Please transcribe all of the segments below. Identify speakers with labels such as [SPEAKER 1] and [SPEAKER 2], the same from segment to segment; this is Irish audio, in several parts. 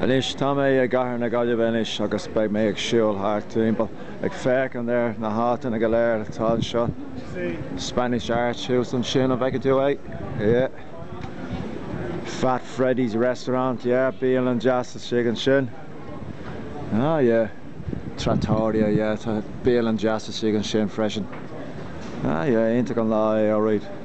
[SPEAKER 1] Anois tá mé i gcathair na Gaillimhe anois agus beidh mé ag siúl thart timpeall ag féachaint ar na háiteanna go léir atá anseo. Spanish Arch thuas ansin, an bhfeiceann tú é? Yeah. Fat Freddy's Restaurant, yeah, bialann deas istigh ansin. Ah yeah. Trattoria, yeah, tá bialann deas istigh ansin freisin. Ah yeah, iontach an lá é, alright.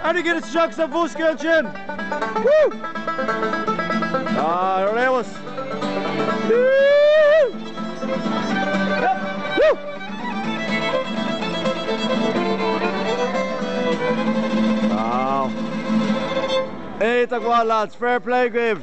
[SPEAKER 1] Airgead isteach sa bhosca sin! Ar fheabhas! Iontach maith lads, fair play dhaoibh!